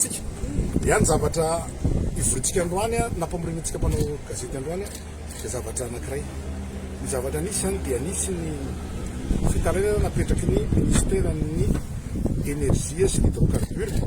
Tsika. Dia ny zavatra ivorintsika androany nampamorianantsika mpanao gazety androany dia zavatra anankiray. Ny zavatra nisy izany dia nisy ny fitarainana napetraky ny Minisiteran'ny Energie sy Hydrocarbures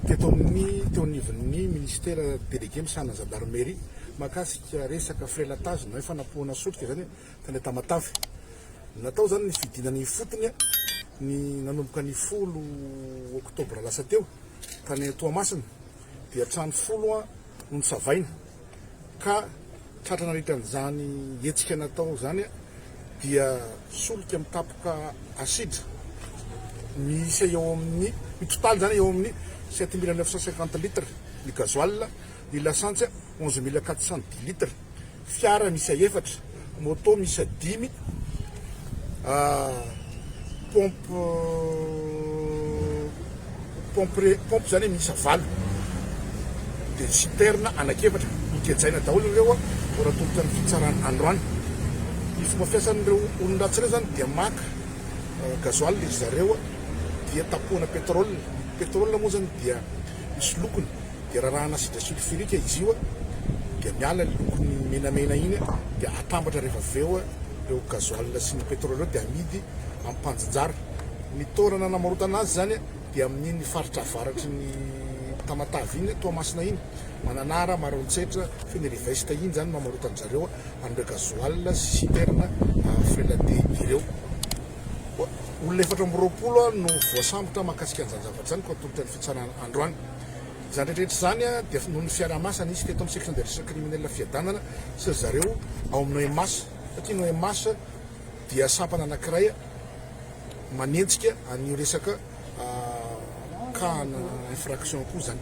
teto amin'ny teo anivon'ny Minisitera Délégué misahana ny Zandarmerie mahakasika resaka frelatazina hoe fanapohana solika izany hoe tany Tamatave. Natao izany ny fidinana ifotony ny nanomboka ny folo oktobra lasa teo tany Toamasina dia trano folo no nosavaina ka tratra nandritra an'izany hetsika natao izany dia solika mitapoka asidra miisa eo amin'ny ny totaly izany eo amin'ny sept mille neuf cent cinquante litres ny gasoil ny lasantsy onze mille quatre cent dix litres. fiara miisa efatra, moto miisa dimy, pompe pompe pompe zany miisa valo, dia citerne anak'efatra. Nogejaina daholo ireo vao natolotra ny fitsarana androany. Ny fomba fiasan'ireo olon-dratsy ireo zany dia maka gasoil ry zareo dia tapohana pétrole. Pétrole moa zany dia misy lokony dia rarahana sidra silfurika izy io dia miala ny lokony menamena iny dia atambatra rehefa avy eo ireo gazoala sy ny petrole ireo dia amidy amin'ny mpanjinjara. Ny toerana namarotana azy izany dia amin'iny faritra avaratry ny Tamatave iny, Toamasina iny, Mananara, Maroantsetra, Fenelivest iny izany no amarotan-dry zareo an'ireo gazoala sy citerne frelaté ireo. Olona efatra amby roapolo no voasambotra mahakasika an'izany zavatra izany koa atolotra ny fitsarana androany. Izany rehetra izany dia noho ny fiaraha-masana isika eto amin'ny section des recherches criminelles Fiadanana sy ry zareo ao amin'ny OMAS satria ny OMAS dia sampana anankiray manenjika an'io resaka cas-na infraction koa izany.